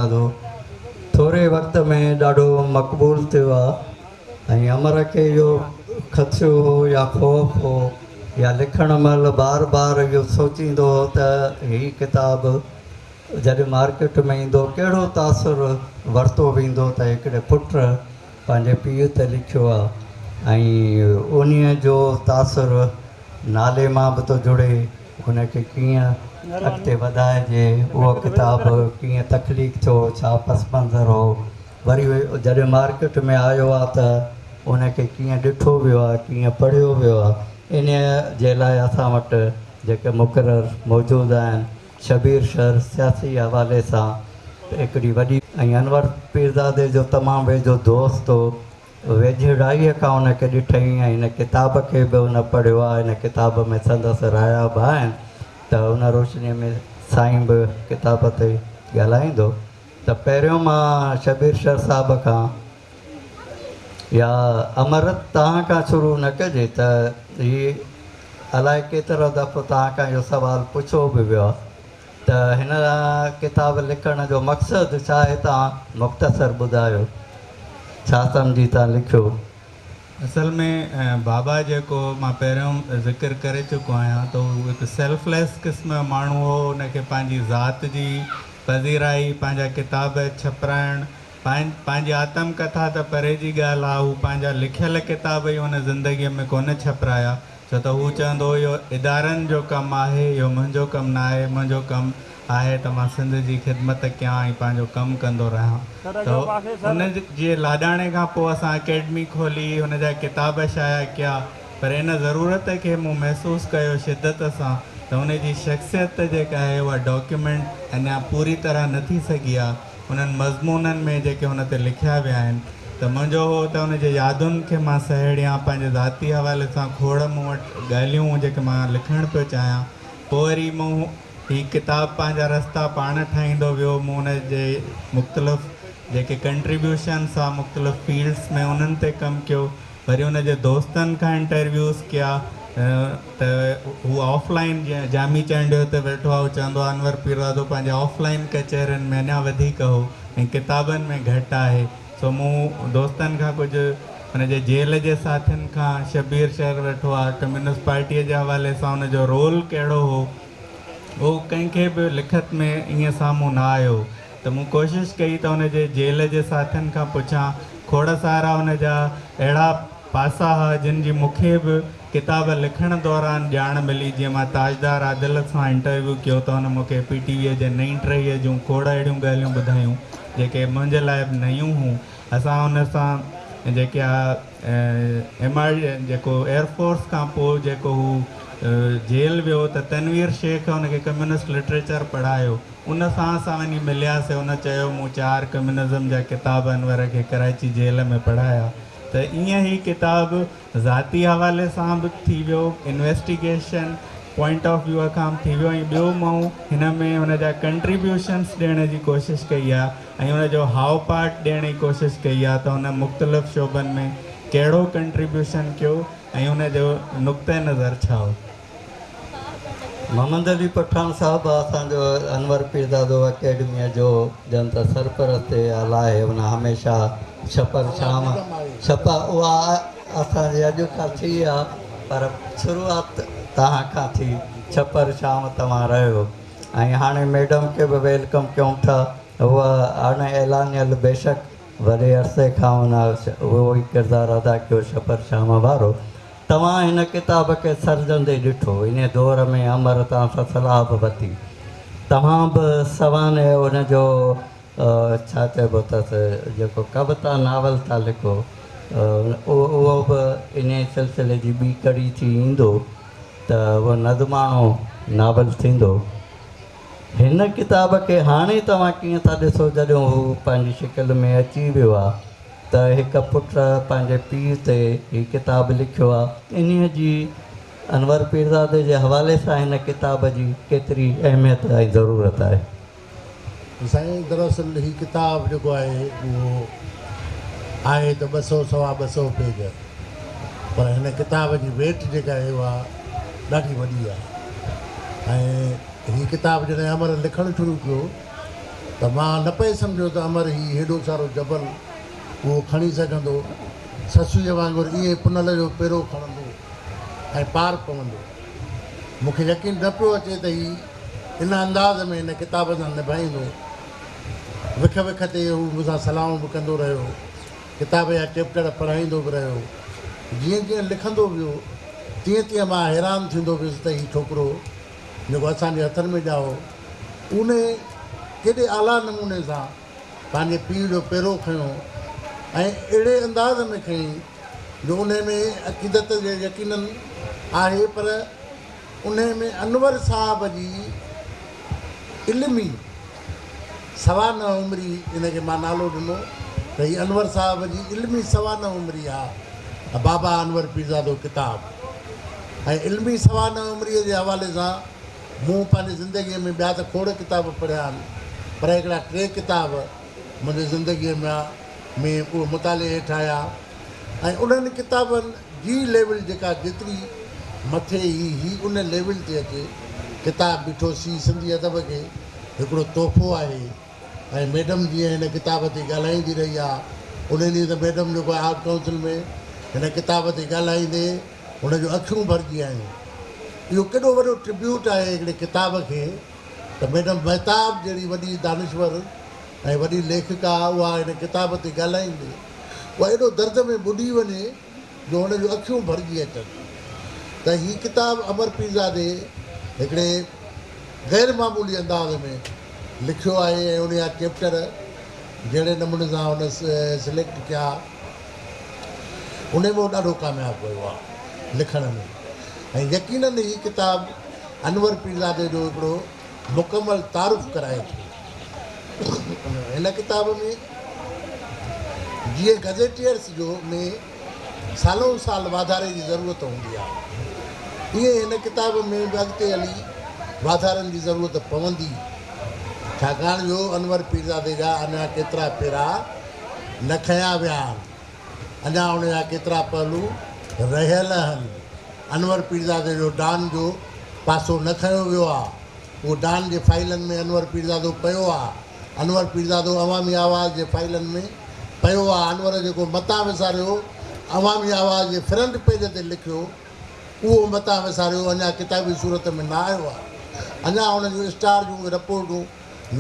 گانو ٿوري وقت ۾ ڏاڍو مقبول ٿيو آ ۽ امر کي اهو خدشو هو يا خوف هو يا لکڻ مهل بار بار اهو سوچيندو هو ته هي ڪتاب جڏهن مارڪيٽ ۾ ايندو ڪهڙو تاثر ورتو ويندو ته هڪڙي پٽ پنهنجي پيء تي لکيو آ ۽ انهيء جو تاثر نالي مان به ٿو جڙي. هن کي ڪيئن اڳتي وڌائجي، اهو ڪتاب ڪيئن تخليق ٿيو، ڇا پس منظر هو، وري جڏهن مارڪيٽ ۾ آيو آهي ته ان کي ڪيئن ڏٺو ويو آهي، ڪيئن پڙهيو ويو آهي، انهيء جي لاء اسان وٽ جيڪي مقرر موجود آهن، شبير شر سياسي حوالي سان هڪڙي وڏي. ۽ انور پيرزادي جو تمام ويجهو دوست هو. ويجهڙائيء کان ان کي ڏٺئي ۽ هن ڪتاب کي به هن پڙهيو آهي. هن ڪتاب ۾ سندس رايا به آهن ته ان روشنيء ۾ سائين به ڪتاب تي ڳالهائيندو ته پهريون مان شبير شر صاحب کان يا امرت تان کان شروع نه ڪجي ته هي الائي ڪيترو دفعو تان کان اهو سوال پڇيو به ويو آهي. ته هن ڪتاب لکڻ جو مقصد ڇا آهي تان مختصر ٻڌايو ڇا سمجهي تان لکيو. اصل ۾ بابا جيڪو مان پهريون ذڪر ڪري چڪو آهيان ته هو هڪ سيلف ليس قسم جو ماڻهو هو ان کي پنهنجي ذات جي پذيرائي پنهنجا ڪتاب ڇپرائڻ پنهنجي آتم ڪٿا ته پري جي ڳالهه ها هو پنهنجا لکيل ڪتاب ئي هن زندگي ۾ ڪونه ڇپرايا ڇو ته هو چوندو هو اهو ادارن جو ڪم آهي، اهو منهنجو ڪم ناهي، منهنجو ڪم آهي ته مان سنڌ جي خدمت ڪيان ۽ پنهنجو ڪم ڪندو رهان ته ان جي لاڏاڻي کان پوء اسان اڪيڊمي کولي، هن جا ڪتاب شايع ڪيا پر ان ضرورت کي مون محسوس ڪيو شدت سان ته ان جي شخصيت جيڪا آهي اها ڊاڪيومينٽ اڃا پوري طرح نه ٿي سگهي آهي. انهن مضمونن ۾ جيڪي هن تي لکيا ويا آهن ته منهنجو هو ته ان جي يادن کي مان سهيڙيان، پنهنجي ذاتي حوالي سان کوڙ مون وٽ ڳالهيون جيڪي مان لکڻ پيو چاهيان، پوء وري مون هي ڪتاب پنهنجا رستا پاڻ ٺاهيندو ويو، مون ان جي مختلف جيڪي ڪنٽريبيوشنس آ مختلف فيلڊس ۾ انهن تي ڪم ڪيو. وري ان جي دوستن کان انٽرويوز ڪيا ته هو آف لائن جيئن جامي چانڊيو هتي ويٺو آهي هو چوندو آهي انور پيرزادو پنهنجي آف لائن ڪچهرين ۾ اڃا وڌيڪ هو ۽ ڪتابن ۾ گهٽ آهي سو مون دوستن کان ڪجهه ان جي جيل جي ساٿين کان شبير شهر ويٺو آهي ڪميونسٽ پارٽيء جي حوالي سان ان جو رول ڪهڙو هو اهو ڪنهن کي به لکت ۾ ائين سامهون نه آيو ته مون ڪوشش ڪئي ته ان جي جيل جي ساٿين کان پڇان. کوڙ سارا ان جا اهڙا پاسا ها جن جي مون کي به ڪتاب لکڻ دوران ڄاڻ ملي. جيئن مان تاجدار عادل سان انٽرويو ڪيو ته هن مون کي پي ٽي ويء جي نئين ٽهيء جون کوڙ اهڙيون ڳالهيون ٻڌايون جيڪي منهنجي لاء به نيون هون. اسان هن سان جيڪي آء ايم آء جيڪو ايئر فورس کان پوء جيڪو هو جيل ويو ته تنوير شيخ هن کي ڪميونسٽ لٽريچر پڙهايو. ان سان اسان وڃي ملياسين، ان چيو مون چار ڪميونزم جا ڪتاب انور کي ڪرائچي جيل ۾ پڙهايا ته ايئن هي ڪتاب ذاتي حوالي سان به ٿي ويو، انويسٽيگيشن پوائنٽ آف ويو کان به ٿي ويو ۽ ٻيو مون هن ۾ هن جا ڪنٽريبيوشنس ڏيڻ جي ڪوشش ڪئي آهي ۽ ان جو هاء پارٽ ڏيڻ جي ڪوشش ڪئي آهي ته هن مختلف شعبن ۾ ڪهڙو ڪنٽريبيوشن ڪيو ۽ ان جو نقطه نظر ڇا هو. محمد علي پٺاڻ صاحب اسان جو انور پيرزادو اڪيڊميء جو ڄڻ ته سرپرست ئي اعليٰ آهي. هن هميشه ڇپر شام ڇپ اها اسان جي اڄ کان ٿي ها پر شروعات توهان کان ٿي ڇپر شام توهان رهيو ۽ هاڻي ميڊم کي به ويلڪم ڪيون ٿا هوء اڻ اعلانيل بيشڪ وڏي عرصي کان هن اهو ئي ڪردار ادا ڪيو ڇپر شام وارو توهان هن ڪتاب کي سرجندي ڏٺو، ان دور ۾ امر توهان سان صلاح به ورتي، توهان به سوانح ان جو ڇا چئبو اٿس جيڪو ڪوتا ناول ٿا لکو اهو به انهيء سلسلي جي ٻي ڪڙي ٿي ايندو ته اهو نظماڻو ناول ٿيندو. هن ڪتاب کي هاڻي توهان ڪيئن ٿا ڏسو جڏهن هو پنهنجي شڪل ۾ اچي ويو آهي؟ ته هڪ پٽ پنهنجي پيء تي هي ڪتاب لکيو آ. انهيء جي انور پيرزادي جي حوالي سان هن ڪتاب جي ڪيتري اهميت ۽ ضرورت آهي. سائين دراصل هي ڪتاب جيڪو آهي اهو آهي ته ٻه سؤ سوا ٻه سؤ پيج پر هن ڪتاب جي ويٽ جيڪا آهي اها ڏاڍي وڏي آهي ۽ هي ڪتاب جڏهن امر لکڻ شروع ڪيو ته مان نه پئي سمجهيو ته امر هي هيڏو سارو جبل اهو کڻي سگهندو. سسئيء وانگر ائين ئي پنل جو پيرو کڻندو ۽ پار پوندو. مون کي يقين نه پيو اچي ته هي ان انداز ۾ هن ڪتاب سان نڀائيندو. وک وک تي هو مون سان صلاحون به ڪندو رهيو. ڪتاب جا چئپٽر پڙهائيندو به رهيو. جيئن جيئن لکندو ويو، تيئن تيئن مان حيران ٿيندو ويس ته هي ڇوڪرو، جيڪو اسان جي هٿن ۾ ڄائو اونهي ڪيڏي اعليٰ نموني سان پنهنجي پيء جو پيرو کنيو ۽ اهڙي انداز ۾ کنيائين جو انهي ۾ عقيدت جي يقيناً آهي پر انهي ۾ انور صاحب جي علمي سوانح عمري ان کي مان نالو ڏنو ته هي انور صاحب جي علمي سوانح عمري آ بابا انور پيرزادو ڪتاب ۽ علمي سوانح عمري جي حوالي سان مون پنهنجي زندگي ۾ ٻيا ته کوڙ ڪتاب پڙهيا آهن پر هڪڙا ٽي ڪتاب منهنجي زندگي ۾ ۾ اهي مطالعي هيٺ آيا ۽ انهن ڪتابن جي ليول جيڪا جيتري مٿي هي هي ان ليول تي اچي ڪتاب بيٺو سي سنڌي ادب کي هڪڙو تحفو آهي ۽ ميڊم جيئن هن ڪتاب تي ڳالهائيندي رهي آ ان ڏينهن ته ميڊم جيڪو آهي آرٽ ڪائونسل ۾ هن ڪتاب تي ڳالهائيندي هن جون اکيون ڀرجي آيون اهو ڪيڏو وڏو ٽربيوٽ آهي هڪڙي ڪتاب کي ته ميڊم مهتاب جهڙي وڏي دانشور ۽ وڏي ليکڪا اها هن ڪتاب تي ڳالهائيندي هو ايڏو درد ۾ ٻڏي وڃي جو هن جون اکيون ڀرجي اچن ته هي ڪتاب امر پيرزادي هڪڙي غير معمولي انداز ۾ لکيو آهي ۽ انهيء جا چيپٽر جهڙي نموني سان هن سليڪٽ ڪيا انهيء ۾ هو ڏاڍو ڪامياب ويو آهي لکڻ ۾ ۽ يقينن هي ڪتاب انور پيرزادي جو هڪڙو مڪمل تعارف ڪرائي ٿو. هن ڪتاب ۾ جيئن گزيٽيئرس جو ۾ سالون سال واڌاري جي ضرورت هوندي آهي ايئن هن ڪتاب ۾ به اڳتي هلي واڌارن جي ضرورت پوندي ڇاڪاڻ جو انور پيرزادي جا اڃا ڪيترا پيرا نه کنيا ويا آهن اڃا ان جا ڪيترا پهلو رهيل آهن انور پيرزادي جو ڊان جو پاسو نه کنيو ويو آهي. هو ڊان جي فائلن ۾ انور پيرزادو پيو آ انور پيرزادو عوامي آواز جي فائلن ۾ پيو آ انور جيڪو متان وساريو عوامي آواز جي فرنٽ پيج تي لکيو اهو متان وساريو اڃا ڪتابي صورت ۾ نه آيو آ اڃا ان جون اسٽار جون اهي رپورٽون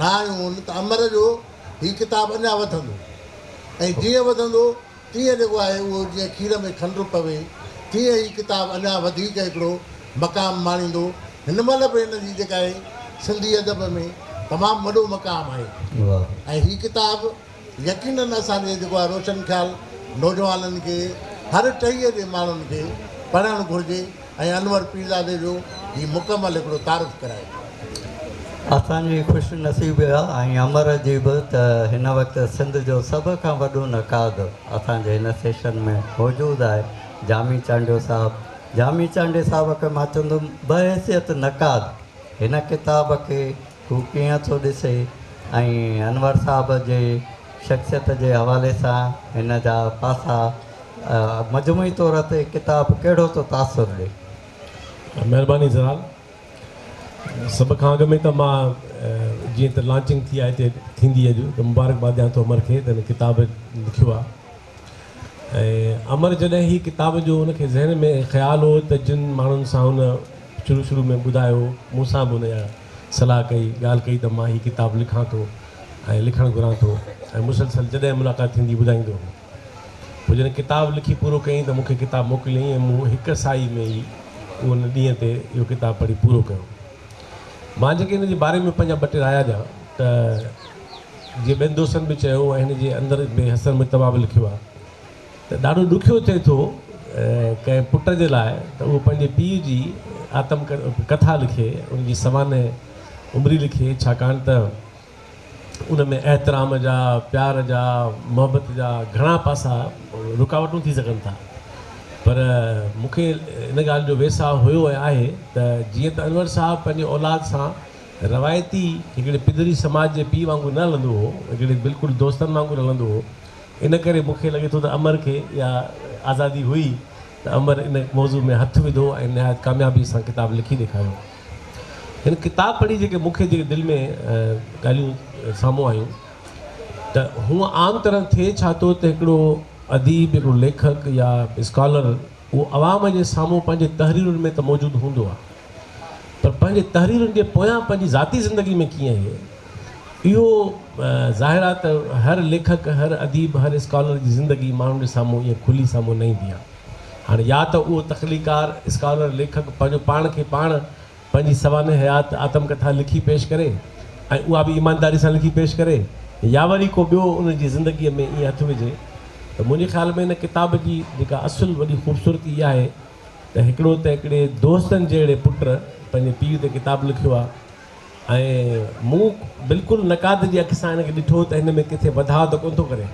نه آيون هن ته امر جو هي ڪتاب اڃا وڌندو ۽ جيئن وڌندو ائين لڳو آهي اهو جيئن کير ۾ کنڊ پوي، تيئن هي ڪتاب اڃا وڌيڪ هڪڙو مقام ماڻيندو. هن مهل به هن جي جيڪا آهي سنڌي ادب ۾ تمام وڏو مقام آهي ۽ هي ڪتاب يقينن اسان جي جيڪو آهي روشن خيال نوجوانن کي هر ٽهيء جي ماڻهن کي پڙهڻ گهرجي. ۽ انور پيرزادي جو هي مڪمل هڪڙو تعارف ڪرائي ٿو. اسان جي خوش نصيب اها ۽ امر جي به ته هن وقت سنڌ جو سڀ کان وڏو نقاد اسان جي هن سيشن ۾ موجود آهي جامي چانڊيو صاحب. جامي چانڊي صاحب کي مان چوندم بحيثيت نقاد هن ڪتاب کي هو ڪيئن ٿو ڏسي ۽ انور صاحب جي شخصيت جي حوالي سان هن جا پاسا مجموعي طور تي ڪتاب ڪهڙو ٿو تاثر ڏي؟ مهرباني زال. سڀ کان اڳ ۾ ته مان جيئن ته لانچنگ ٿي آهي هتي ٿيندي اڄ ته مبارڪباد ڏيان ٿو امر کي ته هن ڪتاب لکيو آهي. ۽ امر جڏهن هي ڪتاب جو ان کي ذهن ۾ خيال هو ته جن ماڻهن سان هن شروع شروع ۾ ٻڌايو مون سان به ان اها صلاح ڪئي ڳالهه ڪئي ته مان هي ڪتاب لکان ٿو ۽ لکڻ گهران ٿو ۽ مسلسل جڏهن ملاقات ٿيندي ٻڌائيندو هو پوء جڏهن ڪتاب لکي پورو ڪيائين ته مون کي ڪتاب موڪليائين ۽ مون هڪ ساهي ۾ ئي ان ڏينهن تي اهو ڪتاب پڙهي پورو ڪيو مان جيڪي ان جي باري ۾ پنهنجا ٻه ٽي رايا ڏيان ته جي ٻين دوستن به چيو ۽ هن جي اندر ۾ حسن مجتبيٰ به لکيو آهي ته ڏاڍو ڏکيو ٿئي ٿو ڪنهن پٽ جي لاء ته اهو پنهنجي پيء جي آتم ڪٿا لکي ان جي سوانح عمري لکي ڇاڪاڻ ته ان ۾ احترام جا پيار جا محبت جا گهڻا پاسا رڪاوٽون ٿي سگهن ٿا پر مون کي ان ڳالهه جو ويساهه هيو ۽ آهي ته جيئن ته انور صاحب پنهنجي اولاد سان روايتي هڪڙي پڌري سماج جي پيء وانگر نه هلندو هو، هڪڙي بلڪل دوستن وانگر هلندو هو، ان ڪري مون کي لڳي ٿو ته امر کي اها آزادي هئي ته امر ان موضوع ۾ هٿ وڌو ۽ نهايت ڪاميابي سان ڪتاب لکي ڏيکاريو. هن ڪتاب پڙهي جيڪي مون کي جيڪي دل ۾ ڳالهيون سامهون آيون ته هونء عام طرح ٿئي ڇا ٿو ته هڪڙو اديب، هڪڙو ليکڪ يا اسڪالر اهو عوام جي سامهون پنهنجي تحريرن ۾ ته موجود هوندو آهي، پر پنهنجي تحريرن جي پويان پنهنجي ذاتي زندگي ۾ ڪيئن هي، اهو ظاهر آهي ته هر ليکڪ، هر اديب، هر اسڪالر جي زندگي ماڻهن جي سامهون ائين کلي سامهون نه ايندي آهي. هاڻي يا ته اهو تخليقڪار، اسڪالر، ليکڪ پنهنجو پاڻ کي پاڻ پنهنجي سوانح حيات آتم ڪٿا لکي پيش ڪري ۽ اها به ايمانداري سان لکي پيش ڪري يا وري ڪو ٻيو ان جي زندگيء ۾ ائين هٿ وجهي ته منهنجي خيال ۾ ان ڪتاب جي جيڪا اصل وڏي خوبصورتي اها آهي ته هڪڙو ته هڪڙي دوستن جهڙي پٽ پنهنجي پيء تي ڪتاب لکيو آهي ۽ مون بلڪل نقاد جي اک سان هن کي ڏٺو ته هن ۾ ڪٿي وڌاء ته ڪونه ٿو ڪري.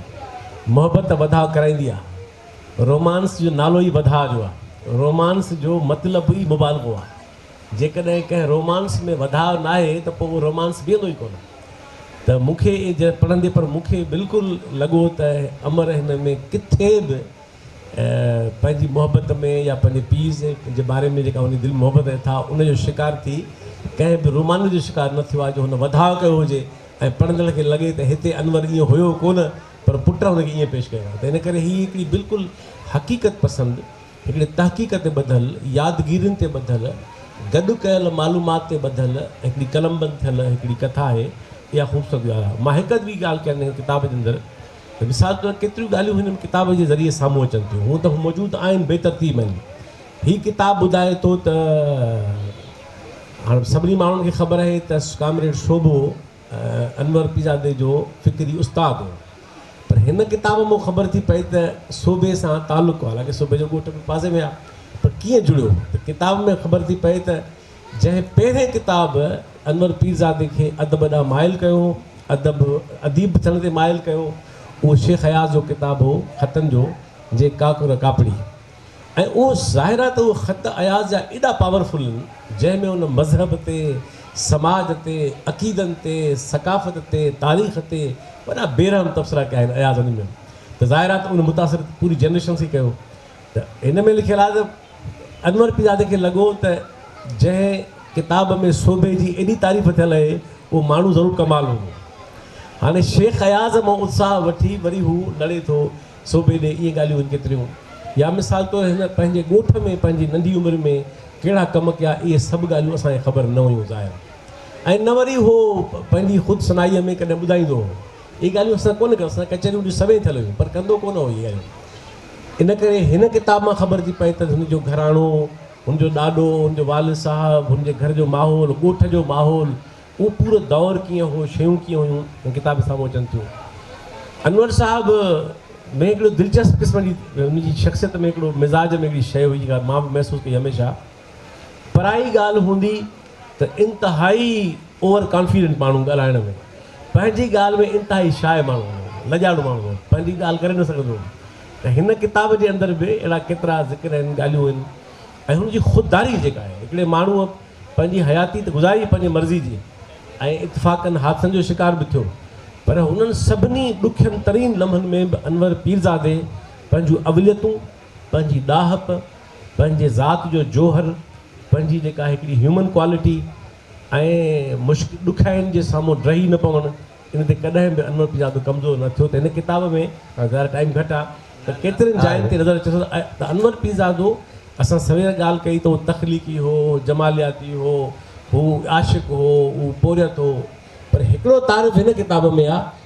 محبت ته وڌاء ڪرائيندي آهي. رومانس جو نالو ئي وڌاء جو آهي. رومانس جو مطلب ئي مبالغو آهي. جيڪڏهن ڪنهن رومانس ۾ وڌاء ناهي ته پوء اهو رومانس بيهندو ئي ڪونه. ته مون کي جڏهن پڙهندي پر مون کي بلڪل لڳو ته امر هن ۾ ڪٿي به پنهنجي محبت ۾ يا پنهنجي پيء جي باري ۾ جيڪا هن دل محبت ۾ اٿاهه ان جو شڪار ٿي ڪنهن به رومانس جو شڪار نه ٿيو آهي جو هن وڌاء ڪيو هجي ۽ پڙهندڙ کي لڳي ته هتي انور ائين هيو ڪونه پر پٽ هن کي ائين پيش ڪيو آهي ته ان ڪري هي هڪڙي بلڪل حقيقت پسند هڪڙي تحقيق تي ٻڌل يادگيرين تي ٻڌل گڏ ڪيل معلومات تي ٻڌل هڪڙي قلمبند ٿيل هڪڙي ڪٿا آهي اها خوبصورت ڳالهه آهي مان هڪ اڌ ٻي ڳالهه ڪنهن ڪتاب جي اندر مثال طور ڪيتريون ڳالهيون هن ڪتاب جي ذريعي سامهون اچن ٿيون، هونء ته هو موجود آهن، بي ترتيب آهن. هي ڪتاب ٻڌائي ٿو ته هاڻ سڀني ماڻهن کي خبر آهي ته ڪامريڊ سوڀو انور پيرزادي جو فڪري استاد هو، پر هن ڪتاب مان خبر ٿي پئي ته سوڀي سان تعلق هو، حالانڪه سوڀي جو ڳوٺ به پاسي ۾ آهي، پر ڪيئن جڙيو؟ ته ڪتاب ۾ خبر ٿي پئي ته جنهن پهرين ڪتاب انور پيرزادي کي ادب ڏانهن مائل ڪيو هو، ادب اديب ٿيڻ تي مائل ڪيو، اهو شيخ اياز جو ڪتاب هو خطن جو جي ڪاڪر ڪاپڙي ۽ اهو ظاهر آهي ته اهي خط اياز جا ايڏا پاور فل هن جنهن ۾ هن مذهب تي، سماج تي، عقيدن تي، ثقافت تي، تاريخ تي وڏا بي رحم تبصرا ڪيا آهن اياز انهن ۾ ته ظاهر آهي ته ان متاثر پوري جنريشنس کي ڪيو. ته هن ۾ لکيل آهي ته انور پيرزادي کي لڳو ته جنهن ڪتاب ۾ سوڀي جي ايڏي تعريف ٿيل اهي اهو ماڻهو ضرور ڪمال هوندو. هاڻي شيخ اياز مان اتساهه وٺي وري هو لڙي ٿو سوڀي ڏي اهي ڳالهيون هن ڪيتريون يا مثال طور هن پنهنجي ڳوٺ ۾ پنهنجي ننڍي عمر ۾ ڪهڙا ڪم ڪيا اهي سڀ ڳالهيون اسان کي خبر نه هيون ظاهر ۽ نه وري هو پنهنجي خود سنائيء ۾ ڪڏهن ٻڌائيندو هو اهي ڳالهيون اسان ڪونه ڪيون اسان ڪچهريون ڏي سوين ٿيل هيون پر ڪندو ڪونه هو اهي ڳالهيون ان ڪري هن ڪتاب مان خبر ٿي پئي ته هن جو گهراڻو، هن جو ڏاڏو، هن جو والد صاحب، هن جي گهر جو ماحول، ڳوٺ جو ماحول، اهو پورو دور ڪيئن هو، شيون ڪيئن هيون، هن ڪتاب ۾ سامهون اچن ٿيون. انور صاحب ۾ هڪڙو دلچسپ قسم جي ان جي شخصيت ۾ هڪڙو مزاج ۾ هڪڙي شيء هئي جيڪا مان به محسوس ڪئي هميشه. پرائي ڳالهه هوندي ته انتهائي اوور ڪانفيڊنٽ ماڻهو ڳالهائڻ ۾ پنهنجي ڳالهه ۾ انتهائي شاء ماڻهو هوندو هو لڄاڙو ماڻهو هوندو هو پنهنجي ڳالهه ڪري نه سگهندو هو ته هن ڪتاب جي اندر به اهڙا ڪيترا ذڪر آهن ڳالهيون آهن ۽ هن جي خودداري جيڪا آهي هڪڙي ماڻهو پنهنجي حياتي ته گذاري پنهنجي مرضي جي ۽ اتفاقن حادثن جو شڪار به ٿيو پر انهن سڀني ڏکين ترين لمحن ۾ به انور پيرزادي پنهنجون اوليتون پنهنجي ڏاهپ، پنهنجي ذات جو جوهر، پنهنجي جيڪا هڪڙي هيومن ڪوالٽي ۽ مشڪ ڏکيائين جي سامهون ڊهي نه پوڻ ان تي ڪڏهن به انور پنجابي ڪمزور نه ٿيو ته هن ڪتاب ۾ ظاهر ٽائيم گهٽ آ ته ڪيترين جاين تي نظر اچي ٿو ته انور پيرزادو اسان سوير ڳالهه ڪئي ته هو تخليقي هو، هو جمالياتي هو، هو عاشق هو، هو پورهيت هو پر هڪڙو تعارف هن ڪتاب ۾ آ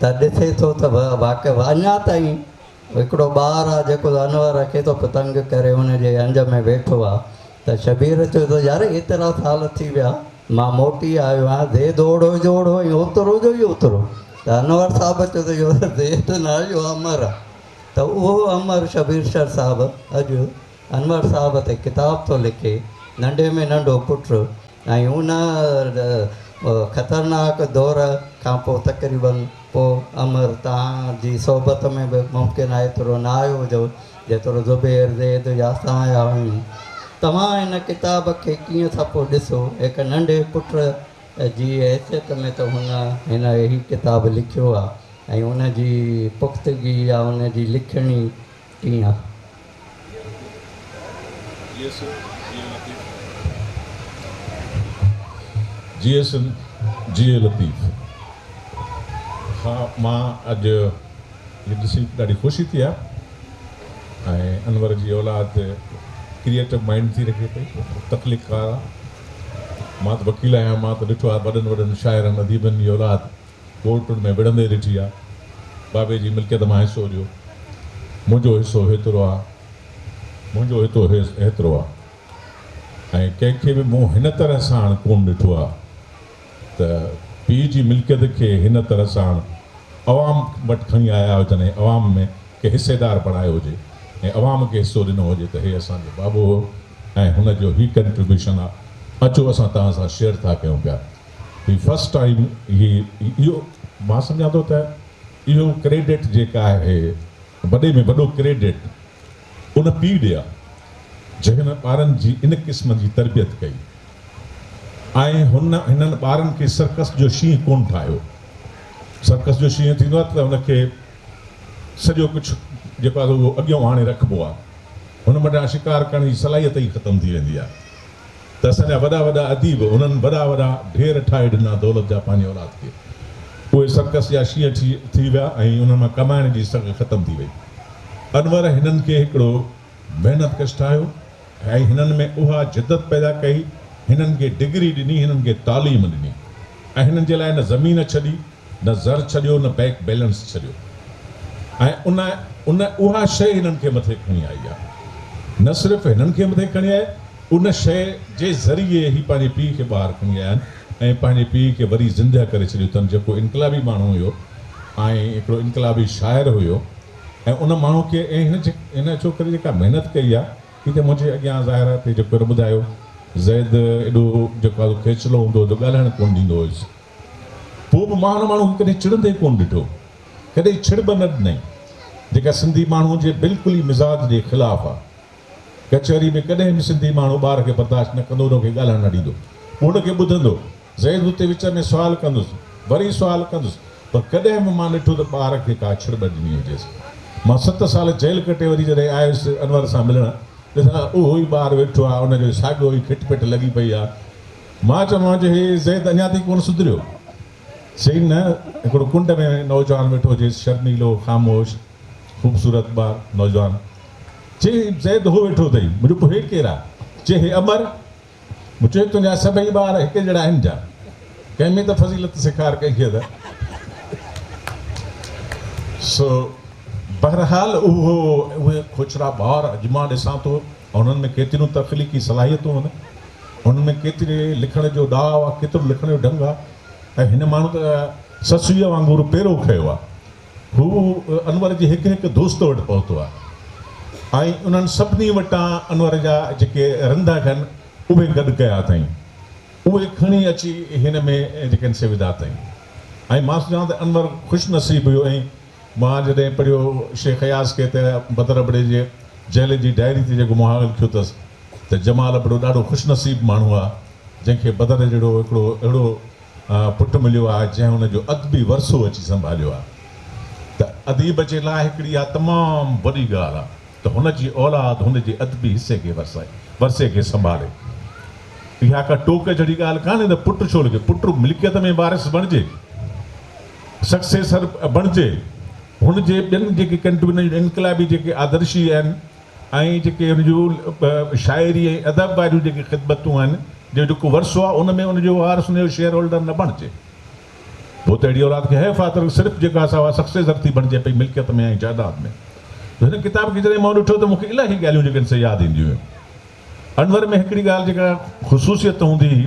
ته ڏسي ٿو ته واقف اڃا تائين هڪڙو ٻار آ جيڪو ته انور کي ٿو تنگ ڪري ان جي انج ۾ ويٺو آ ته شبير چيو ته يار ايترا سال ٿي ويا مان موٽي آيو آهيان زيد اوڙهو جو اوڙهو ۽ اوترو جو ئي اوترو ته انور صاحب چيو ته اهو ته زيد نه اهو امر آ ته اهو امر شبير شر صاحب اڄ انور صاحب تي ڪتاب ٿو لکي، ننڍي ۾ ننڍو پٽ ۽ ان خطرناڪ دور کان پوء تقريباً پوء عمر توهان جي صحبت ۾ به ممڪن آهي ايترو نه آيو هجو جيترو زبير، زيد يا سايا هيون. توهان هن ڪتاب کي ڪيئن ٿا پوء ڏسو؟ هڪ ننڍي پٽ جي حيثيت ۾ ته هن هن هي ڪتاب لکيو آهي ۽ ان جي پختگي يا ان جي لکڻي، ڪيئن آ. جي اي سنڌ جي اي لطيف. ها مان اڄ هي ڏسي ڏاڍي خوشي ٿي آ ۽ انور جي اولاد ڪريئيٽو مائينڊ ٿي رکي پئي تخليق ڪار آ مان ته وڪيل آهيان مان ته ڏٺو آ وڏن وڏن شاعرن اديبن جي اولاد ڪوڙ پڻ ۾ وڙهندي ڏٺي آ. بابي جي ملڪيت مان حصو ڏيو. منهنجو حصو هيترو آ. منهنجو هتو هيترو آ. ۽ ڪنهن کي به مون هن طرح ساڻ ڪون ڏٺو آ ته پيء جي ملڪيت کي هن طرح ساڻ عوام وٽ کڻي آيا هجن ۽ عوام ۾ ڪنهن حصيدار بڻايو هجي ۽ عوام کي حصو ڏنو هجي ته هي اسان جو بابو هو ۽ هن جو هي ڪنٽريبيوشن آ. اچو اسان توهان سان شيئر ٿا ڪيون پيا. هي فرسٽ ٽائيم هي اهو مان سمجهان ٿو ته اهو ڪريڊٽ جيڪا آهي وڏي ۾ وڏو ڪريڊٽ ان پيء ڏي آهي جنهن هن ٻارن جي ان قسم جي تربيت ڪئي ۽ هن هنن ٻارن کي سرڪس جو شينهن ڪونه ٺاهيو سرڪس جو شينهن ٿيندو آهي ته ان کي سڄو ڪجهه جيڪو آهي اهو اڳيون آڻي رکبو آهي هن وٽان شڪار ڪرڻ جي صلاحيت ئي ختم ٿي ويندي آهي ته اسان جا وڏا وڏا اديب هنن وڏا وڏا ڍير ٺاهي ڏنا دولت جا پنهنجي اولاد کي. اهي سرڪس جا شينهن ٺي ٿي ويا ۽ انهن مان ڪمائڻ جي سگهه ختم ٿي وئي. انور هنن کي هڪڙو محنت ڪش ٺاهيو ۽ هنن ۾ اها جدت پيدا ڪئي، هنن کي ڊگري ڏني، هنن کي تعليم ڏني ۽ هنن جي لاء نه زمين ڇڏي نه زر ڇڏيو نه بئڪ بيلنس ڇڏيو ۽ ان ان اها شيء هنن کي مٿي کڻي آئي آهي نه صرف هنن کي مٿي کڻي آئي ان شيء جي ذريعي هي پنهنجي پيء کي ٻاهر کڻي آيا آهن ۽ پنهنجي پيء کي وري زندهه ڪري ڇڏيو اٿن جيڪو انقلابي ماڻهو هيو ۽ هڪڙو انقلابي شاعر هيو ۽ ان ماڻهو کي ۽ هن هن ڇوڪري جيڪا محنت ڪئي آهي هتي منهنجي اڳيان ظاهره هتي جيڪو هن ٻڌايو زيد ايڏو جيڪو آهي کيچلو هوندو هو جو ڳالهائڻ ڪونه ڏيندو هيس پوء به مان ان ماڻهو کي ڪڏهن چڙندي ڪونه ڏٺو. ڪڏهن ڇڙ به نه ڏنائين. جيڪا سنڌي ماڻهوء جي بلڪل ئي مزاج جي خلاف آ. ڪچهري ۾ ڪڏهن به سنڌي ماڻهو ٻار کي برداشت نه ڪندو ان کي ڳالهائڻ نه ڏيندو. پوء ان کي ٻڌندو. زيد اتي وچ ۾ سوال ڪندس. وري سوال ڪندس. پر ڪڏهن به مان ڏٺو ته ٻار کي ڪا ڇڙ ٻه ڏني هجيس. مان ست سال جيل ڪٽي وري جڏهن آيس انور سان ملڻ ڏسان ته اهو ئي ٻار ويٺو آ ان کي ساڳيو ئي کٽ پٽ لڳي پئي آ. مان چيومانس جو هي زيد اڃا تائين ڪونه سڌريو؟ چيائين نه، هڪڙو ڪنڊ ۾ نوجوان ويٺو هجيس، شرميلو، خاموش، خوبصورت ٻار نوجوان. چيائين هي زيد هو ويٺو اٿئي. مون چيو پوء هي ڪير آ؟ چيائين هي امر. مون چيو تنهنجا سڀئي ٻار هڪ جهڙا آهن ڇا؟ ڪنهن ۾ ته فضيلت سيکار ڪئي کيس. سو بهرحال اهو اهي کوڇرا ٻار اڄ مان ڏسان ٿو. ۽ انهن ۾ ڪيتريون تخليقي صلاحيتون آهن، انهن ۾ ڪيتري لکڻ جو ڏاء آ، ڪيترو لکڻ جو ڍنگ آ ۽ هن ماڻهو ته سسئيء وانگر پيرو کنيو آ. هو انور جي هڪ هڪ دوست وٽ پهتو آ ۽ انهن سڀني وٽان انور جا جيڪي رنڌا کن اهي گڏ ڪيا اٿائين، اهي کڻي اچي هن ۾ جيڪن سي وڌا اٿائين ۽ مان سوچان ته انور خوش نصيب هيو ۽ مان جڏهن پڙهيو شيخ اياز کي ته بدر ابڙي جي جهلي جي ڊائري تي جيڪو مهاڳ لکيو اٿس ته جمال ابڙو ڏاڍو خوش نصيب ماڻهو آ جنهن کي بدر جهڙو هڪڙو اهڙو پٽ مليو آ جنهن ان جو ادبي ورثو اچي سنڀاليو آ ته اديب جي لاء هڪڙي اها تمام وڏي ڳالهه آ ته هن جي اولاد هن جي ادبي حصي کي ورثي کي سنڀالي اها ڪا ٽوڪ جهڙي ڳالهه ڪانهي ته پٽ ڇو لکي پٽ ملڪيت ۾ وارث بڻجي. سڪسيسر بڻجي هن جي ٻين جيڪي ڪنٽريبيوشن انقلابي جيڪي آدرشي آهن ۽ جيڪي ان جو شاعري ۽ ادب واريون جيڪي خدمتون آهن جو جيڪو ورثو آهي ان ۾ ان جو وارث ان جو شيئر هولڊر نه بڻجي پوء ته اهڙي اولاد کي حيف آهي ته صرف جيڪا سا اها سڪسيسر ٿي بڻجي پئي ملڪيت ۾ ۽ جائيداد ۾ جو هن ڪتاب کي جڏهن مون ڏٺو ته مون کي الاهي ڳالهيون جيڪي آهن سي ياد اينديون هيون انور ۾ هڪڙي ڳالهه جيڪا خصوصيت هوندي هئي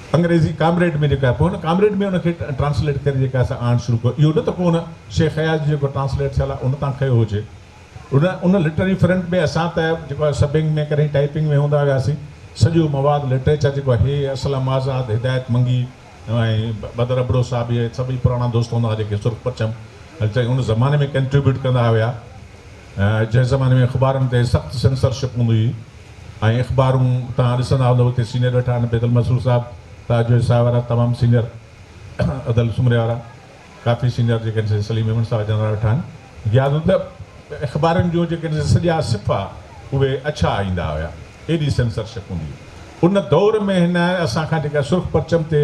انگريزي ڪامريڊ ۾ جيڪا پوء هن ڪامريڊ ۾ ان کي ٽرانسليٽ ڪري جيڪا اسان آڻڻ شروع ڪيو اهو نه ته ڪو ان شيخ اياز جو جيڪو ٽرانسليٽ ٿيل آهي ان تان کنيو هجي ان ان لٽرري فرنٽ ۾ اسان ته جيڪو آهي سبنگ ۾ ڪڏهن ٽائيپنگ ۾ هوندا هياسين سڄو مواد لٽريچر جيڪو آهي هي اسلم آزاد هدايت منگي ۽ بدر ابڙو صاحب اهي سڀئي پراڻا دوست هوندا هئا جيڪي سرخ پرچم ان زماني ۾ ڪنٽريبيوٽ ڪندا هيا. جنهن زماني ۾ اخبارن تي سخت سينسر شپ هوندي هئي ۽ اخبارون توهان ڏسندا هوندؤ اتي سينيئر ويٺا آهن بيدل مسرور صاحب تاج جويي صاحب وارا تمام سينيئر ادل سومري وارا ڪافي سينيئر جيڪي آهن سي سليم ميمڻ صاحب جان وارا ويٺا آهن غياث ادب اخبارن جو جيڪي آهن سي سڄا صفحا اهي اڇا ايندا هيا ايڏي سينسر شپ هوندي هئي ان دور ۾ هن اسان کان جيڪا سرخ پرچم تي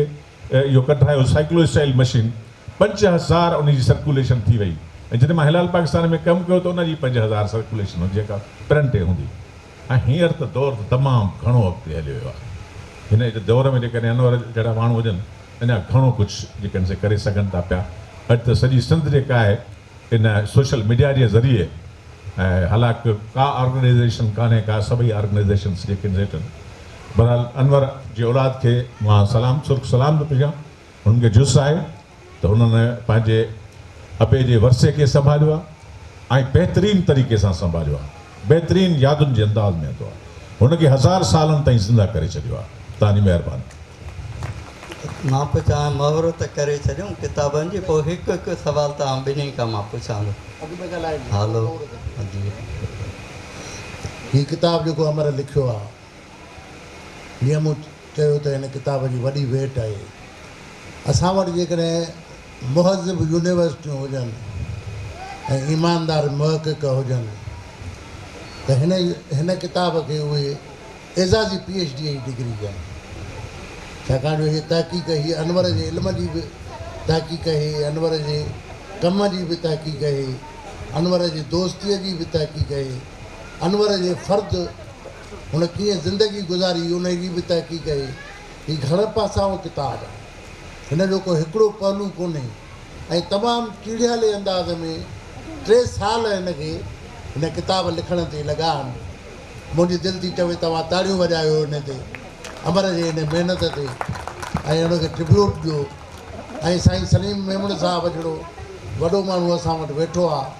اهو ڪڍايو سائيڪلو اسٽائيل مشين پنج هزار ان جي سرڪوليشن ٿي وئي ۽ جڏهن مان هلال پاڪستان ۾ ڪم ڪيو ته ان جي پنج هزار سرڪوليشن هوندي جيڪا پرنٽ تي هوندي ۽ هينئر ته دور ته تمام گهڻو اڳتي هليو ويو آهي هن اڄ دور ۾ جيڪڏهن انور جهڙا ماڻهو هجن اڃا گهڻو ڪجهه جيڪڏهن سي ڪري سگهن ٿا پيا اڄ ته سڄي سنڌ جيڪا آهي ان سوشل ميڊيا جي ذريعي هالانڪ ڪا آرگنائيزيشن ڪانهي ڪا سڀئي آرگنائيزيشنس جيڪي بھرحال انور جي اولاد کي مان سلام سرخ سلام ٿو پيشان انھن کي جس آھي ته انھن پنھنجي ابي جي ورثي کي سنڀاليو آ ۽ بهترين طريقي سان سنڀاليو آ بهترين يادن جي انداز ۾ ھتو آ ھن کي ھزار سالن تائين زنده ڪري ڇڏيو آ توھان جي مھرباني. مان پي چاھيان مھور ته ڪري ڇڏيون ڪتابن جي پوء ھڪ ھڪ سوال توھان ٻنھي کان مان پڇان ٿو ھالو ھجي. ھي ڪتاب جيڪو امر لکيو آ جيئن مون چيو ته هن ڪتاب جي وڏي ويٽ آهي. اسان وٽ جيڪڏهن مهذب يونيورسٽيون هجن ۽ ايماندار محقق هجن ته هن هن ڪتاب کي اهي اعزازي پي ايڇ ڊيء جي ڊگري ڏين. ڇاڪاڻ جو هيء تحقيق هيء انور جي علم جي به تحقيق هيء انور جي ڪم جي به تحقيق هيء انور جي دوستيء جي به تحقيق هيء. انور جي فرد هن ڪيئن زندگي گذاري انهي جي به تحقيق اهي هي گهڻ پاسائو ڪتاب هن جو ڪو هڪڙو پهلو ڪونهي ۽ تمام ٽيڙهيالي انداز ۾ ٽي سال هن کي هن ڪتاب لکڻ تي لڳا آهن منهنجي دل ٿي چوي توهان تاڙيون وڄايو هن تي امر جي هن محنت تي ۽ هن کي ٽربيوٽ ڏيو ۽ سائين سليم ميمڻ صاحب جهڙو وڏو ماڻهو اسان وٽ ويٺو آهي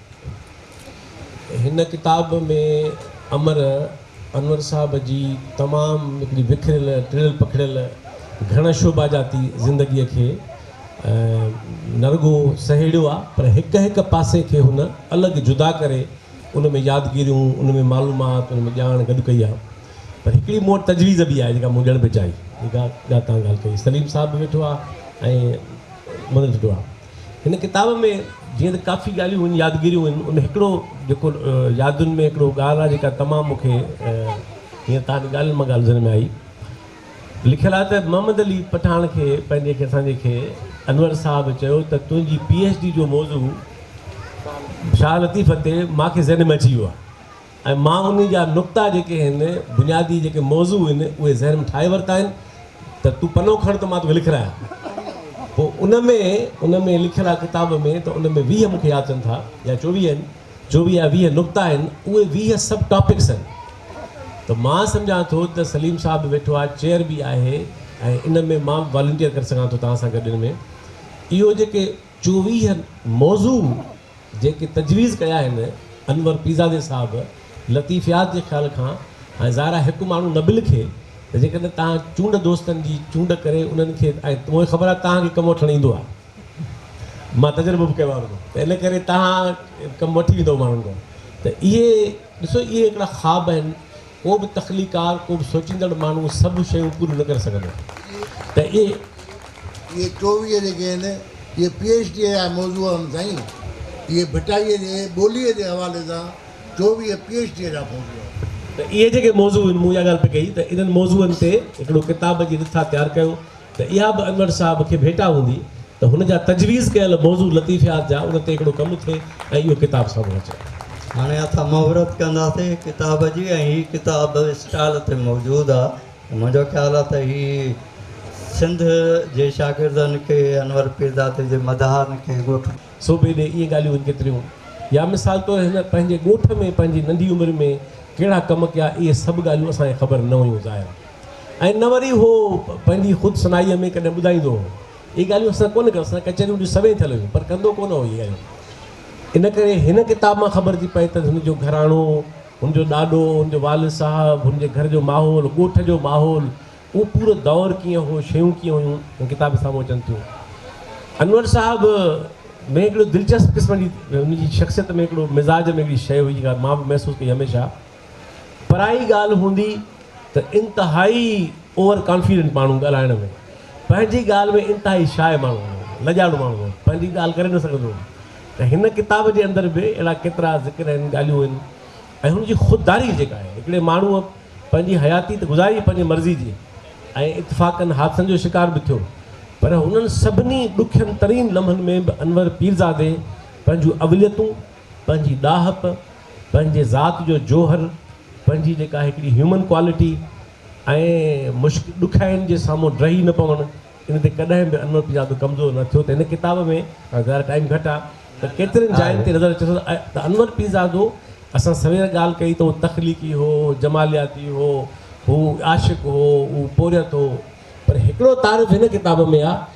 هن ڪتاب ۾ امر انور صاحب جي تمام هڪڙي وکريل، ٽڙيل پکڙيل، گهڻ شعباجاتي زندگيء کي نه رڳو سهيڙيو آ پر هڪ هڪ پاسي کي هن الڳ جدا ڪري ان ۾ يادگيريون، ان ۾ معلومات، ان ۾ ڄاڻ گڏ ڪئي آ. پر هڪڙي مون وٽ تجويز به آهي جيڪا مون ڏيڻ به چاهي. جيڪا تان ڳالهه ڪئي سليم صاحب به ويٺو آ ۽ منوج به آ. هن ڪتاب ۾ جيئن ته ڪافي ڳالهيون هن يادگيريون هن ان هڪڙو جيڪو يادن ۾ هڪڙو ڳالهه آهي جيڪا تمام مون کي هيئن تان ڳالهين مان ڳالهه ذهن ۾ آئي لکيل آهي ته محمد علي پٺاڻ کي پنهنجي کي اسان جي کي انور صاحب چيو ته تنهنجي پي ايڇ ڊي جو موضوع شاهه لطيف تي مان کي ذهن ۾ اچي ويو آهي ۽ مان انهي جا نقطا جيڪي هن بنيادي جيڪي موضوع هن اهي ذهن ۾ ٺاهي ورتا آهن ته تون پنو کڻ ته مان توکي لکرايان پوء ان ۾ ان ۾ لکيل آهي ڪتاب ۾ ته ان ۾ ويهه مونکي ياد اچن ٿا يا چوويهه آهن چوويهه يا ويهه نقطا آهن اهي ويهه سب ٽاپڪس آهن ته مان سمجهان ٿو ته سليم صاحب به ويٺو آهي چيئر به آهي ۽ ان ۾ مان والنٽيئر ڪري سگهان ٿو توهان سان گڏ ان ۾ اهو جيڪي چوويهه موضوع جيڪي تجويز ڪيا آهن انور پيرزادي صاحب لطيف ياد جي خيال کان ۽ ظاهر آهي هڪ ماڻهو نه به لکي ته جيڪڏهن توهان چونڊ دوستن جي چونڊ ڪري انهن کي ۽ مون کي خبر آهي توهان کي ڪم وٺڻ ايندو آهي مان تجربو به ڪيو آهي ته ان ڪري توهان ڪم وٺي ويندو ماڻهن کان ته اهي ڏسو اهي هڪڙا خواب آهن ڪو به تخليقڪار، ڪو به سوچيندڙ ماڻهو سڀ شيون پوريون نه ڪري سگهندو ته اهي. اهي چوويهه جيڪي آهن، اهي پي ايڇ ڊيء جا موضوع آهن سائين. اهي ڀٽائيء جي ٻوليء جي حوالي سان چوويهه پي ايڇ ڊيء جا موضوع آهن. ته اهي جيڪي موضوع آهن، مون اها ڳالهه پئي ڪئي ته انهن موضوعن تي هڪڙو ڪتاب جي رٿا تيار ڪيو. ته اها به انور صاحب کي ڀيٽا هوندي ته هن جا تجويز ڪيل موضوع لطيفيات جا ان تي هڪڙو ڪم ٿئي ۽ اهو ڪتاب سامهون اچي. هاڻي اسان مهورت ڪنداسين ڪتاب جي ۽ هي ڪتاب اسٽال تي موجود آ ۽ منهنجو خيال آ ته هي سنڌ جي شاگردن کي انور پيرزادي جي مداحن کي ڳوٺ. صوبي ڏي اهي ڳالهيون هن ڪيتريون يا مثال طور هن پنهنجي ڳوٺ ۾ پنهنجي ننڍي عمر ۾ ڪهڙا ڪم ڪيا اهي سڀ ڳالهيون اسان کي خبر نه هيون ظاهر آ. ۽ نه وري هو پنهنجي خود صنائيء ۾ ڪڏهن ٻڌائيندو هو. اهي ڳالهيون اسان ڪونه ڪيون، اسان ڪچهريون به سوين ٿيل هيون، پر ڪندو ڪونه هو اهي ڳالهيون. ان ڪري هن ڪتاب مان خبر ٿي پئي ته هن جو گهراڻو، هن جو ڏاڏو، هن جو والد صاحب، هن جي گهر جو ماحول، ڳوٺ جو ماحول، اهو پورو دور ڪيئن هو، شيون ڪيئن هيون، هن ڪتاب ۾ سامهون اچن ٿيون. انور صاحب ۾ هڪڙو دلچسپ قسم جي هن جي شخصيت ۾ هڪڙو مزاج ۾ هڪڙي شيء هئي، جيڪا مان به محسوس ڪئي هميشه. پرائي ڳالهه هوندي ته انتهائي اوور ڪانفيڊنٽ ماڻهو ڳالهائڻ ۾ پنهنجي ڳالهه ۾ انتهائي شاء ماڻهو هوندو هو، لڄاڻو ماڻهو هوندو هو، پنهنجي ڳالهه ڪري نه سگهندو هو ته هن ڪتاب جي اندر به اهڙا ڪيترا ذڪر آهن، ڳالهيون آهن ۽ هن جي خودداري جيڪا آهي هڪڙي ماڻهوء پنهنجي حياتي ته گذاري پنهنجي مرضي جي ۽ اتفاقن حادثن جو شڪار به ٿيو پر انهن سڀني ڏکين ترين لمحن ۾ به انور پيرزادي پنهنجون اوليتون پنهنجي ڏاهپ، پنهنجي ذات جو جوهر، پنهنجي جيڪا هڪڙي هيومن ڪوالٽي ۽ مشڪ ڏکيائين جي سامهون ڊهي نه پوڻ ان تي ڪڏهن به انور پنجابي ڪمزور نه ٿيو ته هن ڪتاب ۾ ظاهر ٽائيم گهٽ آ ته ڪيترين جاين تي نظر اچي ٿو ته انور پيرزادو اسان سوير ڳالهه ڪئي ته هو تخليقي هو، جمالياتي هو، هو عاشق هو، هو پورهيت هو پر هڪڙو تعارف هن ڪتاب ۾ آ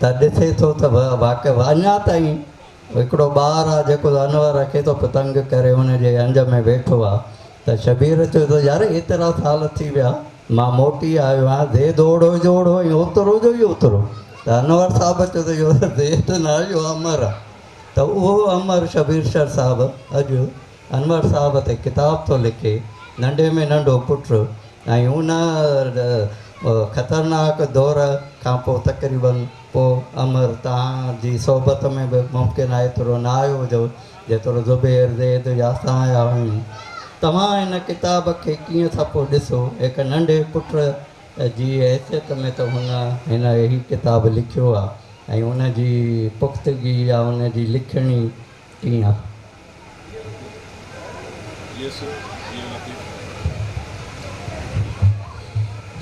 ته ڏسي ٿو ته واقف اڃا تائين هڪڙو ٻار آ جيڪو انور کي ٿو تنگ ڪري ان جي انج ۾ ويٺو آ ته شبير چيو ته يار ايترا سال ٿي ويا مان موٽي آيو آهيان زيد اوڙو جو اوڙو ۽ اوترو جو ئي اوترو ته انور صاحب چيو ته اهو زيد ناهي اهو امر آ ته اهو امر شبير شر صاحب اڄ انور صاحب تي ڪتاب ٿو لکي، ننڍي ۾ ننڍو پٽ ۽ ان خطرناڪ دور کان پوء تقريباً پوء عمر توهان جي صحبت ۾ به ممڪن آهي ايترو نه آيو هجو جيترو زبير، زيد يا اسان آيا آهيون. توهان هن ڪتاب کي ڪيئن ٿا پوء ڏسو؟ هڪ ننڍي پٽ جي حيثيت ۾ ته هن هن هي ڪتاب لکيو آهي ۽ ان جي پختگي يا ان جي لکڻي، ڪيئن آ.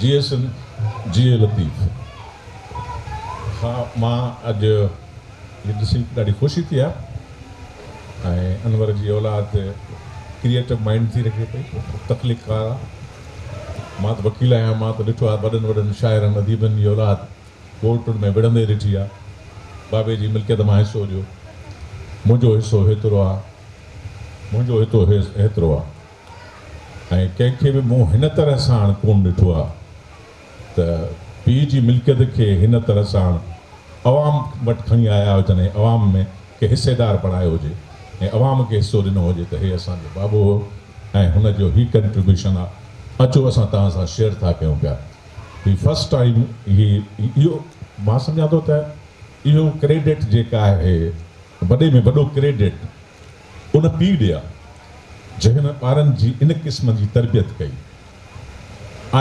جي اي سنڌ جي اي لطيف. ها مان اڄ هي ڏسي ڏاڍي خوشي ٿي آ ۽ انور جي اولاد ڪريئيٽو مائينڊ ٿي رکي پئي تخليق ڪار آ مان ته وڪيل آهيان مان ته ڏٺو آ وڏن وڏن شاعرن اديبن جي اولاد ڪوڙ پڻ ۾ وڙهندي ڏٺي آ. بابي جي ملڪيت مان حصو ڏيو. منهنجو حصو هيترو آ. منهنجو هتو هيترو آ. ۽ ڪنهن کي به مون هن طرح ساڻ ڪون ڏٺو آ ته پيء جي ملڪيت کي هن طرح ساڻ عوام وٽ کڻي آيا هجن ۽ عوام ۾ کي حصيدار بڻايو هجي ۽ عوام کي حصو ڏنو هجي ته هي اسان جو بابو هو ۽ هن جو هي ڪنٽريبيوشن آ. اچو اسان توهان سان شيئر ٿا ڪيون پيا. هي فرسٽ ٽائيم هي اهو مان سمجهان ٿو ته اهو ڪريڊٽ جيڪا آهي وڏي ۾ وڏو ڪريڊٽ ان پيء ڏي آهي جنهن ٻارن جي ان قسم جي تربيت ڪئي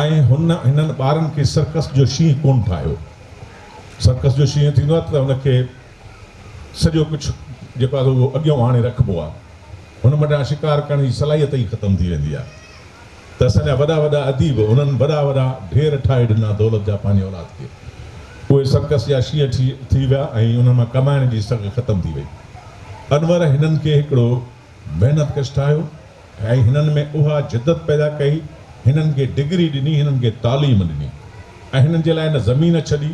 ۽ هن هنن ٻارن کي سرڪس جو شينهن ڪونه ٺاهيو سرڪس جو شينهن ٿيندو آهي ته ان کي سڄو ڪڇ جيڪو آهي اهو اڳيئون آڻي رکبو آهي. هن منڍان شڪار ڪرڻ جي صلاحيت ئي ختم ٿي ويندي آهي ته اسان جا وڏا وڏا اديب هنن وڏا وڏا ڍير ٺاهي ڏنا دولت جا پنهنجي اولاد کي. اهي سرڪس جا شينهن ٺي ٿي ويا ۽ انهن مان ڪمائڻ جي سگهه ختم ٿي وئي. انور هنن کي هڪڙو محنت ڪش ٺاهيو ۽ هنن ۾ اها جدت پيدا ڪئي. هنن کي ڊگري ڏني، هنن کي تعليم ڏني ۽ هنن جي لاء نه زمين ڇڏي.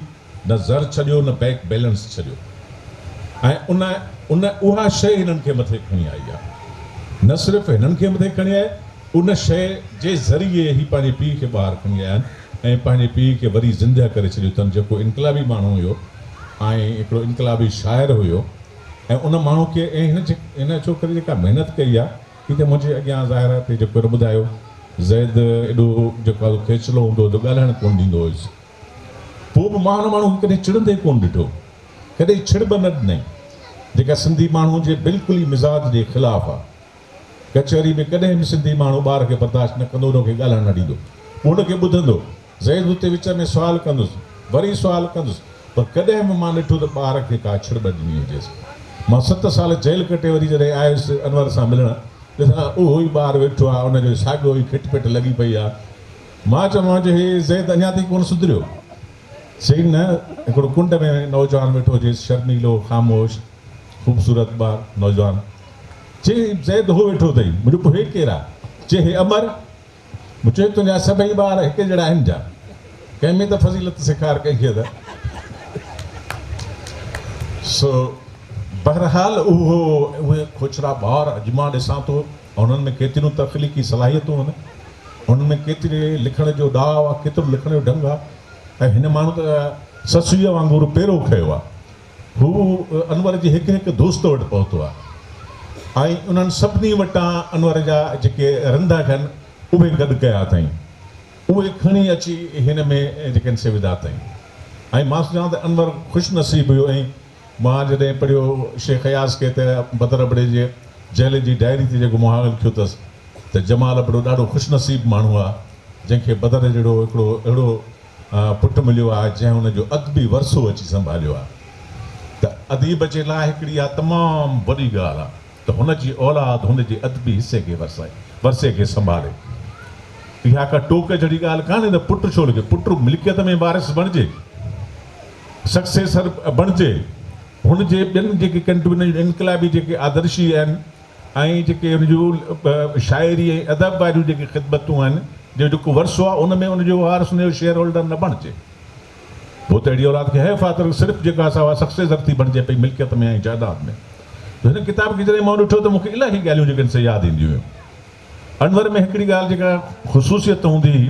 نه زر ڇڏيو نه بئڪ بيلنس ڇڏيو ۽ ان ان اها شيء هنن کي مٿي کڻي آئي آهي نه صرف هنن کي مٿي کڻي آئي ان شيء جي ذريعي هي پنهنجي پيء کي ٻاهر کڻي آيا آهن ۽ پنهنجي پيء کي وري زندهه ڪري ڇڏيو اٿن جيڪو انقلابي ماڻهو هيو ۽ هڪڙو انقلابي شاعر هيو ۽ ان ماڻهو کي ۽ هن هن ڇوڪري جيڪا محنت ڪئي آهي هي ته منهنجي اڳيان ظاهر آهي ته جيڪو هن ٻڌايو زيد ايڏو جيڪو آهي کيچلو هوندو هو جو ڳالهائڻ ڪونه ڏيندو هيس. پوء به مان ان ماڻهو کي ڪڏهن چڙندي ڪونه ڏٺو، ڪڏهن ڇڙ به نه ڏنائين، جيڪا سنڌي ماڻهو جي بلڪل ئي مزاج جي خلاف آ. ڪچهري ۾ ڪڏهن به سنڌي ماڻهو ٻار کي برداشت نه ڪندو، ان کي ڳالهائڻ نه ڏيندو، پوء ان کي ٻڌندو، زيد اتي وچ ۾ سوال ڪندس، وري سوال ڪندس، پر ڪڏهن به مان ڏٺو ته ٻار کي ڪا ڇڙ ٻه ڏني هجيس. مان ست سال جيل ڪٽي وري جڏهن آيس انور سان ملڻ، ڏسان ته اهو ئي ٻار ويٺو آ، ان جو ساڳيو ئي کٽ پٽ لڳي پئي آ. مان چيومانس جو هي زيد اڃا تائين ڪونه سڌريو. چيائين نه، هڪڙو ڪنڊ ۾ نوجوان ويٺو هجيس، شرميلو، خاموش، خوبصورت ٻار نوجوان. چيائين هي زيد هو ويٺو اٿئي. مون چيو پوء هي ڪير آ؟ چيائين هي امر. مون چيو تنهنجا سڀئي ٻار هڪ جهڙا آهن ڇا؟ ڪنهن ۾ ته فضيلت سيکار ڪئي هئي ته. سو بهرحال اهو اهي کوڇرا ٻار اڄ مان ڏسان ٿو انهن ۾ ڪيتريون تخليقي صلاحيتون آهن، انهن ۾ ڪيتري لکڻ جو ڏاء آ، ڪيترو لکڻ جو ڍنگ آ ۽ هن ماڻهو ته سسئيء وانگر پيرو کنيو آ. هو انور جي هڪ هڪ دوست وٽ پهتو آ ۽ انهن سڀني وٽان انور جا جيڪي رنڌا ٿين اهي گڏ ڪيا اٿائين. اهي کڻي اچي هن ۾ جيڪن سي وڌا اٿائين ۽ مان سوچان ته انور خوش نصيب هيو ۽ مان جڏهن پڙهيو شيخ اياز کي ته بدر ابڙي جي جهلي جي ڊائري تي جيڪو مهاڳ لکيو اٿس ته جمال ابڙو ڏاڍو خوش نصيب ماڻهو آ جنهن کي بدر جهڙو هڪڙو اهڙو پٽ مليو آ جنهن ان جو ادبي ورثو اچي سنڀاليو آ ته اديب جي لاء هڪڙي اها تمام وڏي ڳالهه آ ته هن جي اولاد هن جي ادبي حصي کي ورثي کي سنڀالي اها ڪا ٽوڪ جهڙي ڳالهه ڪانهي ته پٽ ڇو لکي پٽ ملڪيت ۾ وارث بڻجي. سڪسيسر بڻجي هن جي ٻين جيڪي ڪنٽونين انقلابي جيڪي آدرشي آهن ۽ جيڪي ان جو شاعري ۽ ادب واريون جيڪي خدمتون آهن جو جيڪو ورثو آهي ان ۾ ان جو وارث ان جو شيئر هولڊر نه بڻجي پوء ته اهڙي اولاد کي حيف آهي ته صرف جيڪا سا اها سڪسيسر ٿي بڻجي پئي ملڪيت ۾ ۽ جائداد ۾ جو هن ڪتاب کي جڏهن مون ڏٺو ته مون کي الاهي ڳالهيون جيڪي سي ياد اينديون هيون انور ۾ هڪڙي ڳالهه جيڪا خصوصيت هوندي هئي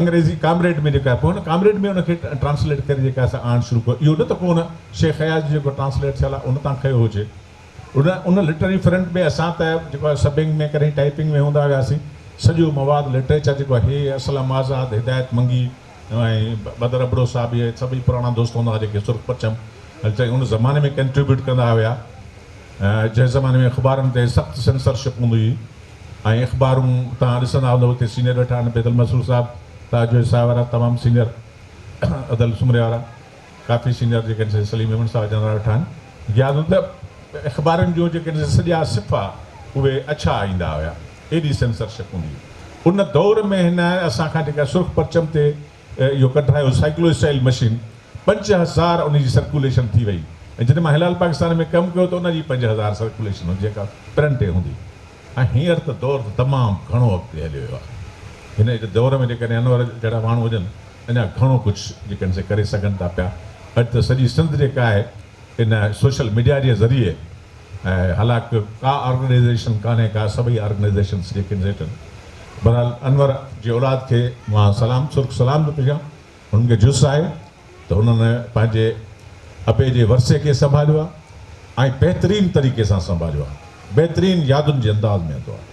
انگريزي ڪامريڊ ۾ جيڪا پوء هن ڪامريڊ ۾ ان کي ٽرانسليٽ ڪري جيڪا سا آڻڻ شروع ڪيو اهو نه ته ڪو ان شيخ اياز جو جيڪو ٽرانسليٽ ٿيل آهي ان تان کنيو هجي ان ان لٽرري فرنٽ ۾ اسان ته جيڪو آهي سبنگ ۾ ڪڏهن ٽائيپنگ ۾ هوندا هياسين سڄو مواد لٽريچر جيڪو آهي هي اسلم آزاد هدايت منگي ۽ بدر ابڙو صاحب اهي سڀئي پراڻا دوست هوندا هئا جيڪي سرخ پرچم چئي ان زماني ۾ ڪنٽريبيوٽ ڪندا هيا جنهن زماني ۾ اخبارن تي سخت سينسرشپ هوندي هئي ۽ اخبارون توهان ڏسندا هوندو اتي سينئر ويٺا آهن بيدل مسرور صاحب تاج جويي صاحب وارا تمام سينئر ادل سومري وارا ڪافي سينئر جيڪي آهن سي سليم ميمڻ صاحب جن وارا ويٺا آهن غياث ادب اخبارن جو جيڪي آهن سڄا صفحا اهي اڇا ايندا هيا ايڏي سينسرشپ هوندي هئي ان دور ۾ هن اسان کان جيڪا سرخ پرچم تي اهو ڪڍايو سائيڪلو اسٽائيل مشين پنج هزار ان جي سرڪوليشن ٿي وئي ۽ جڏهن مان هلال پاڪستان ۾ ڪم ڪيو ته ان جي پنج هزار سرڪوليشن هوندي جيڪا پرنٽ تي هوندي ۽ هينئر ته دور ته تمام گهڻو اڳتي هليو ويو آهي هن جي دور ۾ جيڪڏهن انور جهڙا ماڻهو هجن اڃا گهڻو ڪجهه جيڪڏهن سي ڪري سگهن ٿا پيا اڄ ته سڄي سنڌ جيڪا آهي ان سوشل ميڊيا جي ذريعي ۽ هالاڪ ڪا آرگنائيزيشن ڪانهي ڪا سڀئي آرگنائيزيشنس جي ڪينڊيٽن بهرحال انور جي اولاد کي مان سلام سرخ سلام ٿو پيشان هنن کي جس آهي ته هنن پنهنجي ابي جي ورثي کي سنڀاليو آهي ۽ بهترين طريقي سان سنڀاليو آهي بهترين يادن جي انداز ۾ هوندو آهي.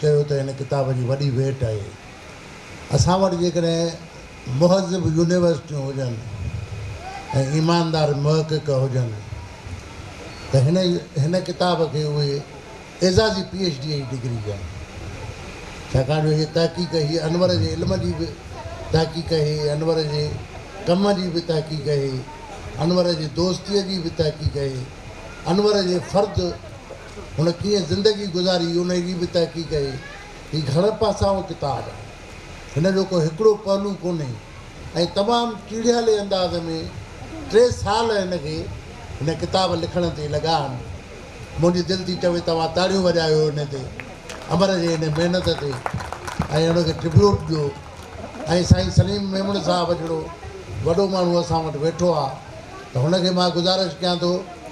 چيو ته هن ڪتاب جي وڏي ويٽ آهي اسان وٽ جيڪڏهن مهذب يونيورسٽيون هجن ۽ ايماندار محقق هجن ته هن هن ڪتاب کي اهي اعزازي پي ايڇ ڊيء جي ڊگري ڏين ڇاڪاڻ جو هيء تحقيق هيء انور جي علم جي به تحقيق اهي انور جي ڪم جي به تحقيق اهي انور جي دوستيء جي به تحقيق اهي انور جي فرد هن ڪيئن زندگي گذاري انهيء جي به تحقيق اهي. هي گهڻ پاسائو ڪتاب آهي. هن جو ڪو هڪڙو پهلو ڪونهي ۽ تمام ٽيڙهيالي انداز ۾ ٽي سال هن کي هن ڪتاب لکڻ تي لڳا آهن. منهنجي دل ٿي چوي توهان تاڙيون وڄايو هن تي امر جي هن محنت تي ۽ هن کي ٽربيوٽ ڏيو ۽ سائين سليم ميمڻ صاحب جهڙو وڏو ماڻهو اسان وٽ ويٺو آهي ته هن کي مان گذارش ڪيان ٿو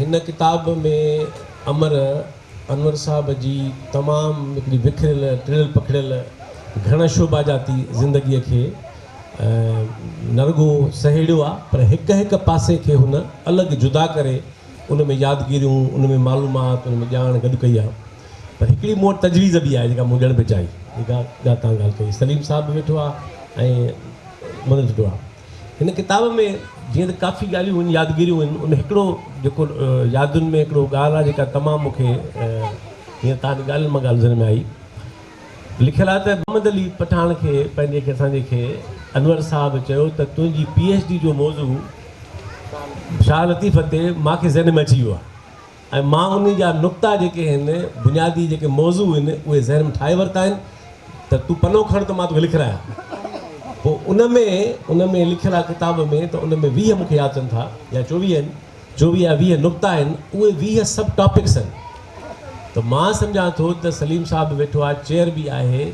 هن ڪتاب ۾ امر انور صاحب جي تمام هڪڙي وکريل، ٽڙيل پکڙيل، گهڻ شعباجاتي زندگيء کي نه رڳو سهيڙيو آ پر هڪ هڪ پاسي کي هن الڳ جدا ڪري ان ۾ يادگيريون، ان ۾ معلومات، ان ۾ ڄاڻ گڏ ڪئي آ. پر هڪڙي مون وٽ تجويز به آهي جيڪا مون ڏيڻ به چاهي. جيڪا تان ڳالهه ڪئي سليم صاحب به ويٺو آ ۽ منوج به آ. هن ڪتاب ۾ جيئن ته ڪافي ڳالهيون هن يادگيريون هن ان هڪڙو جيڪو يادن ۾ هڪڙو ڳالهه آهي جيڪا تمام مون کي هيئن تان ڳالهين مان ڳالهه ذهن ۾ آئي لکيل آهي ته محمد علي پٺاڻ کي پنهنجي کي اسان جي کي انور صاحب چيو ته تنهنجي پي ايڇ ڊي جو موضوع شاهه لطيف تي مان کي ذهن ۾ اچي ويو آهي ۽ مان انهي جا نقطا جيڪي هن بنيادي جيڪي موضوع هن اهي ذهن ۾ ٺاهي ورتا آهن ته تون پنو کڻ ته مان توکي لکرايان پوء ان ۾ ان ۾ لکيل آهي ڪتاب ۾ ته ان ۾ ويهه مون کي ياد اچن ٿا يا چوويهه آهن چوويهه يا ويهه نقطا آهن اهي ويهه سب ٽاپڪس آهن ته مان سمجهان ٿو ته سليم صاحب به ويٺو آهي چيئر به آهي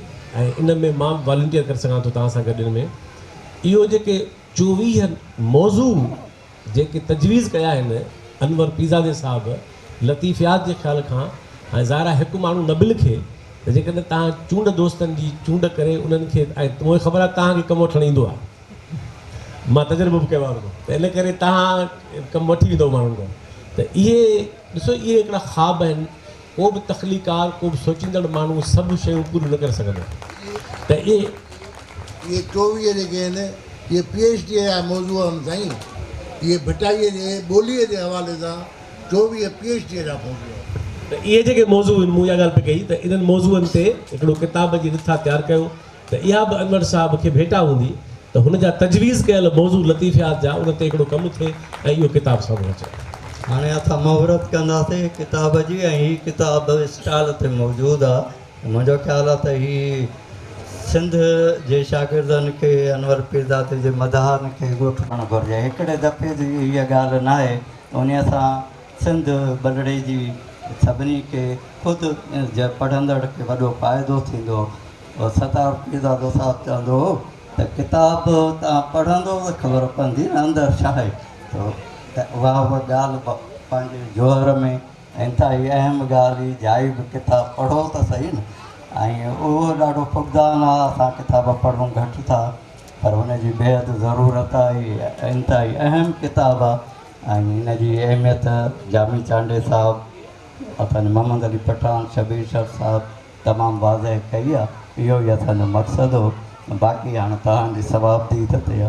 ۽ ان ۾ مان والنٽيئر ڪري سگهان ٿو توهان سان گڏ ان ۾ اهو جيڪي چوويهه موضوع جيڪي تجويز ڪيا آهن انور پيرزادي صاحب لطيف ياد جي خيال کان ۽ ظاهرا هڪ ماڻهو نه به لکي ته جيڪڏهن توهان چونڊ دوستن جي چونڊ ڪري انهن کي ۽ مون کي خبر آهي توهان کي ڪم وٺڻ ايندو آهي مان تجربو به ڪيو آهي انکو ته ان ڪري توهان ڪم وٺي ويندو ماڻهن کان ته اهي ڏسو اهي هڪڙا خواب آهن ڪو به تخليقڪار، ڪو به سوچيندڙ ماڻهو سڀ شيون پوريون نه ڪري سگهندو ته اهي. اهي چوويهه جيڪي آهن، اهي پي ايڇ ڊيء جا موضوع آهن سائين. اهي ڀٽائيء جي ٻوليء جي حوالي سان چوويهه پي ايڇ ڊيء جا موضوع آهن. ته اهي جيڪي موضوع آهن، مون اها ڳالهه پئي ڪئي ته انهن موضوعن تي هڪڙو ڪتاب جي رٿا تيار ڪيو. ته اها به انور صاحب کي ڀيٽا هوندي ته هن جا تجويز ڪيل موضوع لطيفيات جا ان تي هڪڙو ڪم ٿئي ۽ اهو ڪتاب سامهون اچي. هاڻي اسان مهورت ڪنداسين ڪتاب جي ۽ هي ڪتاب اسٽال تي موجود آ منهنجو خيال آ ته هي سنڌ جي شاگردن کي انور پيرزادي جي مداحن کي ڳوٺائڻ گهرجي هڪڙي دفعي جي هيء ڳالهه ناهي انهي سان سنڌ بلڙي جي سڀني کي خود جي پڙهندڙ کي وڏو فائدو ٿيندو. ستار پيرزادو صاحب چوندو هو ته ڪتاب به توهان پڙهندو ته خبر پوندي نه اندر ڇا آهي ته اها به ڳالهه پنهنجي جوهر ۾ انتهائي اهم ڳالهه هئي جائي به ڪتاب پڙهو ته صحيح نه ۽ اهو ڏاڍو فقدان آهي اسان ڪتاب پڙهون گهٽ ٿا پر ان جي بيحد ضرورت آهي انتهائي اهم ڪتاب آهي ۽ ان جي اهميت جامي چانڊيي صاحب محمد علي پٺاڻ شبير شر صاحب تمام واضح ڪئي آ اهو ئي اسان جو مقصد هو باقي هاڻ توهان جي صوابديد تي آ.